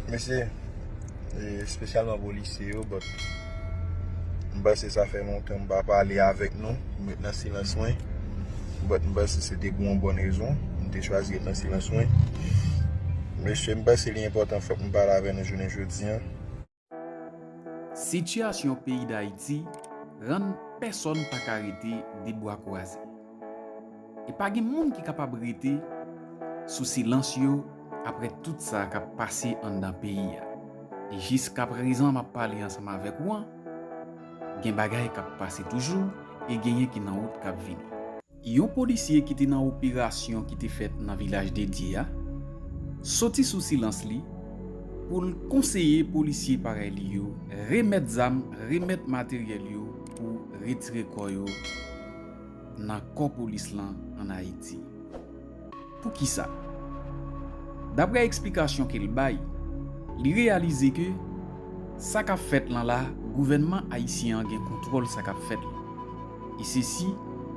Mesi espesyalman polisye yo but m panse sa fè lontan m pa pale avèk nou m ret nan silans mwen but m panse se te pou yon bon rezon m te chwazi ret nan silans mwen mesye m panse li enpòtan fòk m pale avè nou jounen jodi an. Sitiyasyon peyi Dayiti rann pèsòn pa ka rete de bwa kwaze. E pa gen moun ki kapab rete sou silans yo aprè tout sa k ap pase anndan peyi a. E jiskaprezan m ap pale ansanm avèk ou an, gen bagay k ap pase toujou e genyen ki nan wout k ap vini. Yon polisye ki te nan operasyon ki te fèt nan Vilaj Dedye a soti sou silans li pou l konseye polisye parèy li yo remèt zam, remèt materyèl yo pou retire kò yo nan kò polis lan an Ayiti. Poukisa? Daprè eksplikasyon ke l bay, li reyalize ke sa k ap fèt lan la gouvènman ayisyen an gen kontwòl sa k ap fèt lan. E sesi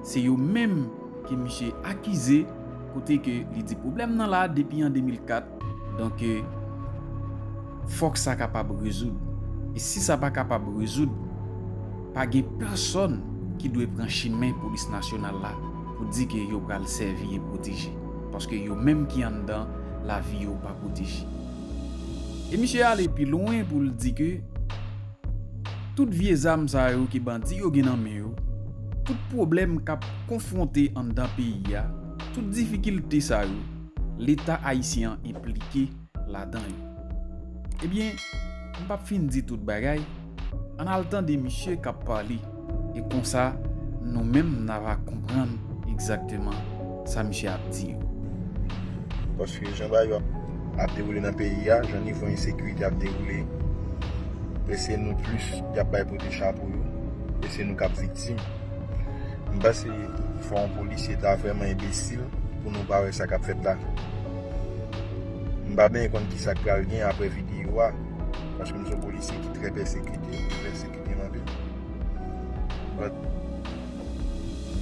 se yo menm ke misye akize kote ke li di pwoblèm nan la depi an 2004, Donk, fòk sa kapab rezoud. E si sa pa kapab rezoud, pa gen pèsòn ki dwe pran chimen Polis Nasyonal la pou di ke yo pral sèvi e pwoteje. Paske yo menm ki anndan, lavi yo pa pwoteje. E misye ale pi lwen pou l di ke tout vye zam sa yo ke bandi yo gen nan men yo, tout pwoblèm k ap konfwonte anndan peyi a, tout difikilte sa yo, leta ayisyen an enplike ladan yo. Ebyen, m pap fin di tout bagay, ann al tande misye k ap pale e konsa nou menm n ava konprann egzakteman sa misye ap di yo. Paske jan bagay yo ap dewoule nan peyi a, jan nivo ensekirite ap dewoule, e se nou plis y ap bay pote chapo yo, e se nou k ap viktim. M panse fò yon polisye ta vrèman enbesil pou nou pa wè sa k ap fèt la. M pa benyen konn ki sa k pral gen aprè videyo a, paske m se yon polisye ki trè pèsekite, yo pèsekite m anpil. But,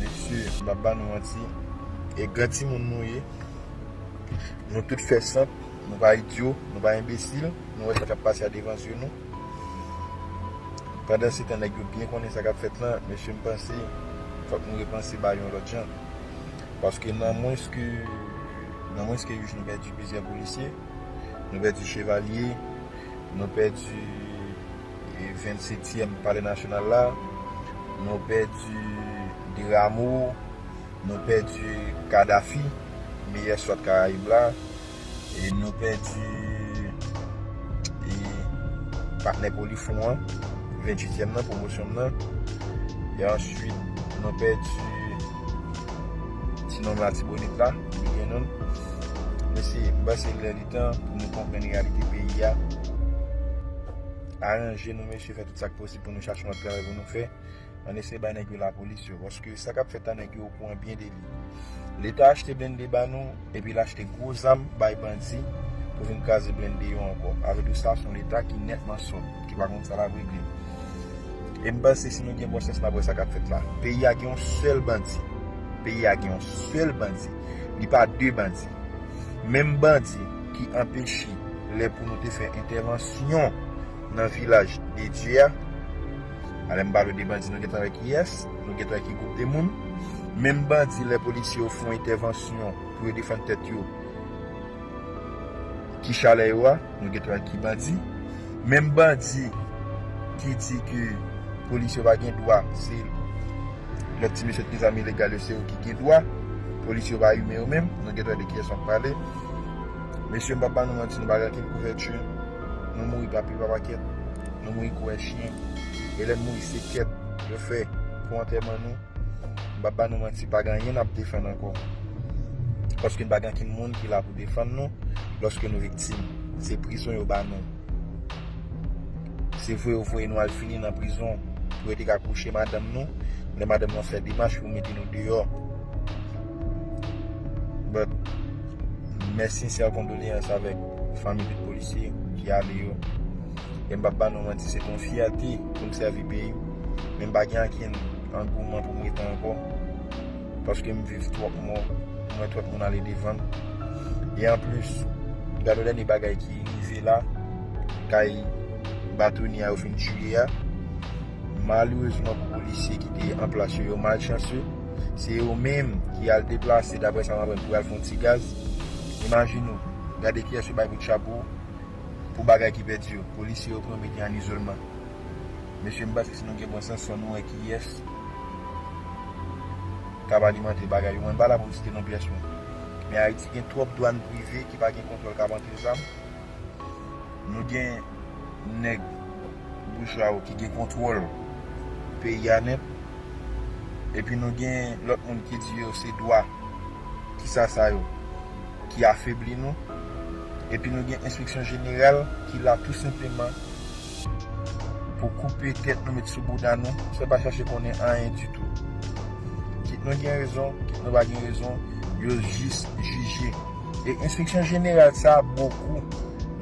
mesye, m p ap ba nou manti, e gran timoun nou ye, nou tout fè sant, nou pa idyo, nou pa enbesil, nou wè sa k ap pase a devan zye nou. Pandan se tan nèg yo byen konnen sa k ap fèt lan, mesye m panse fòk nou repanse bagay yon lòt jan. Paske nan mwens ke nan mwens ke yon jou nou pèdi plizyè polisye, nou pèdi chevalye, nou pèdi vennsetyèm palè nasyonal la, nou pèdi Deramo, nou pèdi Kadafi, meyè swat karayib la. e nou pèdi e patnè Polifon an 28 èm nan pwomosyon m nan e answit nou pèdi ti nonm latibonit la Wilgen Nonm mesye m panse l lè li tan pou nou konprann reyalite peyi a aranje nou mesye fè tout sa k posib pou nou chache yon lòt travay pou nou fè. An eseye bay nèg yo la polis yo. Paske sa kap fèt la nèg yo okouran byen de li. Leta achte blende ba nou epi l achte gwo zam bay bandi pou vin kraze blende yo ankò. Sa vle di sa son leta ki nètman sòt, ki pa konn sa lap regle. E m panse si nou gen bon sans nap wè sa kap fèt la. Peyi a gen yon sèl bandi. Peyi a gen yon sèl bandi. Li pa de bandi. Menm bandi ki anpeche lè pou nou te fè entèvansyon nan vilaj de Dye a. Alem pa vle di bandi nou gentan wè kiyès, nou gentan wè ki gwoup de moun. Menm bandi lè polisye yo fon entèvansyon pou yo defann tèt yo, ki chalè yo a, nou gentan wè ki bandi. Menm bandi ki di ke polisye yo pa gen dwa, se lòt ti mesye ki gen zam ilegal yo se yo ki gen dwa, polisye yo pa imen yo menm, nou gentan wè de kiyès map pale. Mesye m pap ba nou manti nou pa gen ankenn kouvèti. Nou mouri papi pa pakèt Nou mouri kou en chyen E lè n mouri se kèt yo fè pou antèman nou M pap ba nou manti pa gen anyen n ap defann ankò Paske n pa gen ankenn moun ki la pou defann nou Lòske nou viktim Se prizon yo ba nou Se vre yo voye nou al fini nan prizon Pou yo te ka kouche madanm nou Lè madanm nou ap fè demach pou mete nou deyò But Mes sincères condoléances avèk. fanmi tout polisye ki ale yo e m pap ba nou manti se te yon fyète pou m sèvi peyi m men m pa gen ankenn angouman pou m rete ankò paske m viv twòp mò m wè twòp moun ale devan m e anplis gad yon dènye bagay ki rive la kay batonye a yo fin tiye a malerezman pou polisye ki te anplas yo yo malchanse se yo menm ki al deplase daprè sa m aprann pou yo al fè yon ti gaz imajine w Gade kiyès yo bay bout chapo pou bagay ki pèdi yo. Polisye yo pran mete an izolman. Mesye m panse si nou gen bon sans fò nou wè kiyès kap alimante bagay yo. Mwen pa la pou m site non pyès moun. Men Ayiti gen twòp dwàn prive ki pa gen kontwòl kap antre zam. Nou gen nèg boujwa yo ki gen kontwòl peyi a nèt. Epi nou gen lòt moun ki di yo se dwa. Kisa sa yo? ki afebli nou, epi nou gen enstriksyon jeneral ki la tou senpleman pou koupe tèt nou met sou bouda nou san pa chache konnen anyen ditou. Kit nou gen rezon, kit nou pa gen rezon, yo jis jije. E enstriksyon jeneral sa a bokou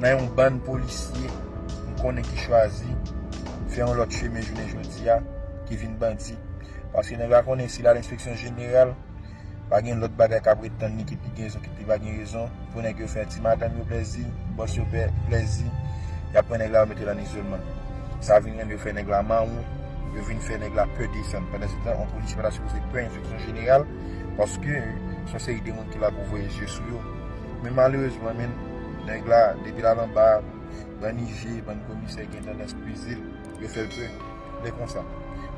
nan yon bann polisye m konnen ki chwazi fè yon lòt chemen jounen jodi a, ki vin bandi. Paske nèg la konnen si l al enstriksyon jeneral, Pa gen lòt bagay k ap ret tann li ki pi gen rezon ki pi pa gen rezon. Pou nèg yo fè ti madanm yo plèzi, bòs yo plèzi, y ap pran nèg la yo mete l ann izolman. Sa vin rann yo fè nèg la mawon, yo vin fè nèg la pè desann. Pandansetan, yon polisye pa ta sipoze pè enspeksyon jeneral paske se yon seri de moun ki la pou voye je sou yo. Men malerezman menn, nèg la depi l al anba, bann ije, bann komisè gen tandans peze l. Yo fèl pè. Lè konsa.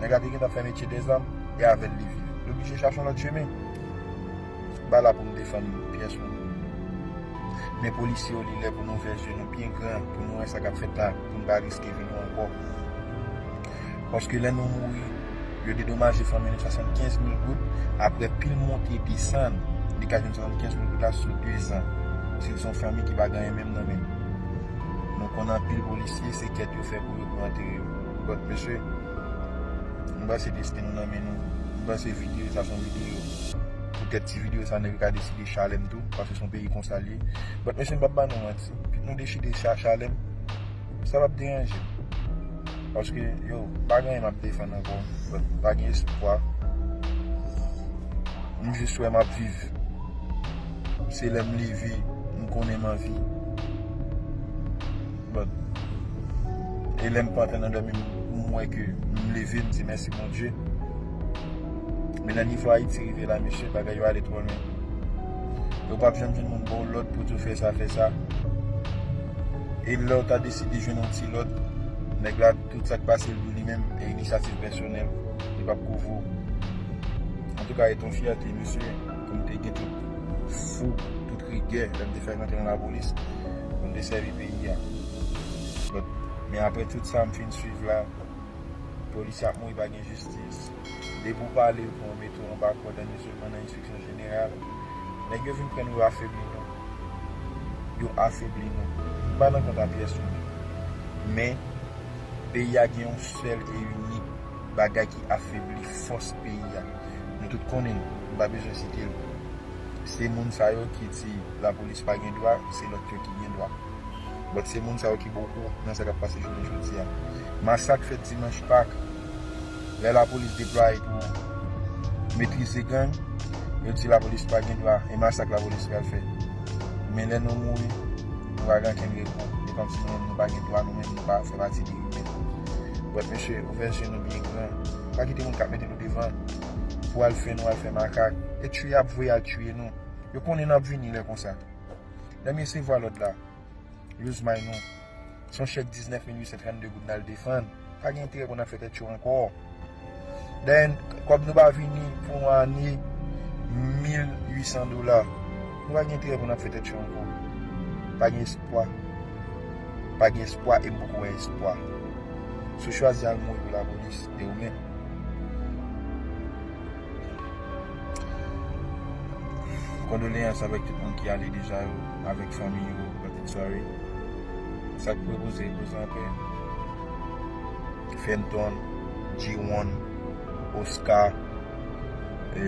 Nèg la te gentan fè metye de zam e avèl li viv. Li oblije chache yon lòt chemen. Ba la pou nou defann pyès moun. Men polisye yo li lè pou nou ouvè zye nou byen gran pou nou wè sa kap fèt la pou nou pa riske vi nou ankò. Paske lè nou mouri yo dedomaje fanmi nou 75 mil goud aprè pil monte desann li ka jwenn 75 mil goud la sou 2 zan. Si l son fanmi ki pa gen anyen menm nan men. Nou konn anpil polisye se kèt yo. fè pou yo k mante yo but mesye m pase desten nou nan men nou m pase video sa son video pou tèt ti video sa nèg yo ka deside chalèm tou paske son peyi konsal ye but mesye m pap ba nou manti pi nou dechide chalèm sa pap deranjem paske yo pa gen anyen map defann ankò but pa gen espwa m jis wè map viv se lèm leve m konnen m anvi. But e lèm pantan nan dòmi m wè ke m leve m di mèsi Bondye. Men nan nivo Ayiti rive la mesye bagay yo ale twò lwen. E ou pap janm jwenn moun baw lòd pou diw fè sa fè sa. E lèw ta deside jwenn yon ti lòd, nèg la tout sak pasel pou li menm e inisyativ pèsonèl li pap kouvri w. Antouka e ton fyète mesye. pou m te gen tout fou, tout rigè lè m te fèk antre nan lapolis pou m te sèvi peyi a. But, men aprè tout sa m fin swiv la, polisye ap mouri pa gen jistis, depi w pale pou yo mete w anba kòd an izolman nan enspeksyon jeneral, nèg yo vin pran nou yo afebli nou, yo afebli nou. M pa nan kont a pyès moun, men peyi a gen yon sèl e inik bagay ki afebli fòs peyi a. Nou tout konnen l, m pa bezwen site l. Se moun sa yo ki di lapolis pa gen dwa, se lòt yo ki gen dwa. But se moun sa yo ki ba w kou nan sa k ap pase jounen jodi a. Masak fèt dimanch Pak, lè lapolis deplwaye pou metrize gang, yo di lapolis pa gen dwa e masak lapolis pral fè. Men lè nou mouri, nou pa gen ankenn rekou. E kòmsi nou menm nou pa gen dwa, nou menm nou pa fè pati de imen. But mesye, ouvè je nou byen gran. Pa kite moun k ap mete. devan pou al fè nou al fè makak e tchye yap voye al tchye nou yo konnen nap vini lè konsa lèm resevwa lòd la yo zmay nou son chèk 19832 goud nal defann pa gen enterè pou nan fè tèt cho ankò dèyè kòb nou pa vini pou yon ane 1800 dola nou pa gen enterè pou nan fè tèt cho ankò pa gen espwa pa gen espwa e mpoko wè espwa sou chwazi al mouri pou lapolis e ou menm. Kondoleyans avèk tout moun ki ale deja yo, avèk fanmi yo, pitit sòl. Sa k repoze repoze anpè. Fenton, Jiwon, Oska, e.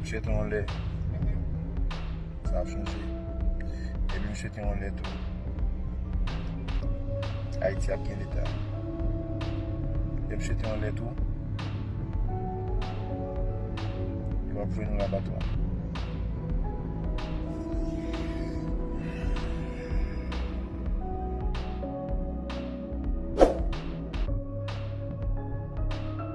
Misye te yon lè. Sa ap chanje. Epi misye te yon lè tou. Ayiti ap gen leta. Epi misye te yon lè tou. Yo ap voye nou labatwa.